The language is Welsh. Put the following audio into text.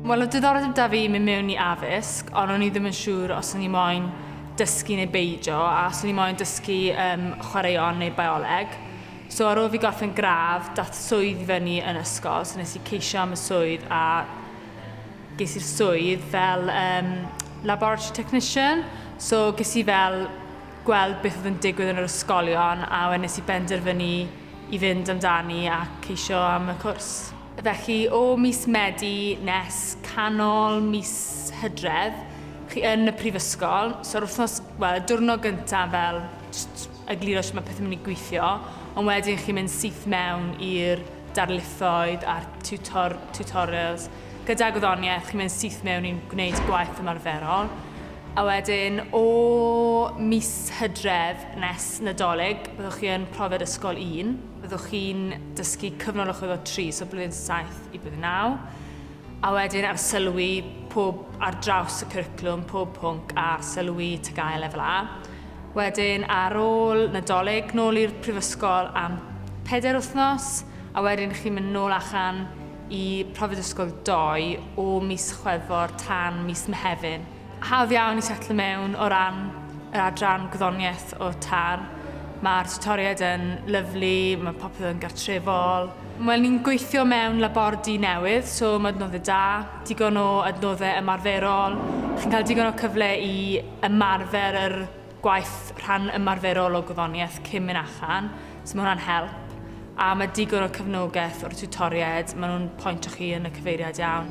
Wel, oedd diddordeb da fi mynd mewn i addysg, ond o'n i ddim yn siŵr os o'n i moyn dysgu neu beidio, a os o'n i moyn dysgu um, chwaraeon neu bioleg. So ar ôl fi gorffen gradd, dath swydd i fyny yn ysgol, so nes i ceisio am y swydd a Ges i'r swydd fel um, laboratory technician, so ges i fel gweld beth oedd yn digwydd yn yr ysgolion a wedyn nes i benderfynu i fynd amdani a ceisio am y cwrs. Felly o mis Medi nes canol mis Hydref, chi yn y prifysgol, so'r wythnos, wel, y diwrnod gyntaf fel just egluro sut mae pethau'n mynd i gweithio, ond wedyn chi'n mynd syth mewn i'r darlithoedd a'r tutor, tutorials, Gyda gwyddoniaeth, chi'n mynd syth mewn i'n gwneud gwaith ymarferol. A wedyn, o mis hydref nes Nadolig, byddwch chi yn profiad ysgol 1. Byddwch chi'n dysgu cyfnod o chwyddo 3, so blwyddyn 7 i blwyddyn 9. A wedyn ar sylwi pob ar draws y cwricwlwm, pob pwnc a sylwi TGAU lefel A. Wedyn ar ôl Nadolig, nôl i'r prifysgol am 4 wythnos, a wedyn chi'n mynd nôl allan y profiad ysgol ddoe o mis Chwefror tan mis Mehefin. Hawdd iawn i setlo mewn o ran yr adran gwyddoniaeth o tan. Mae'r tutoriaid yn lyflu, mae popeth yn gartrefol. Wel, ni'n gweithio mewn labordy newydd, so mae adnoddau da, digon o adnoddau ymarferol. Chi'n cael digon o cyfle i ymarfer yr gwaith rhan ymarferol o gwyddoniaeth cyn mynd allan, so mae hwnna'n help, a mae digon o cefnogaeth o'r tiwtoriaid, maen nhw'n pointio chi yn y cyfeiriad iawn.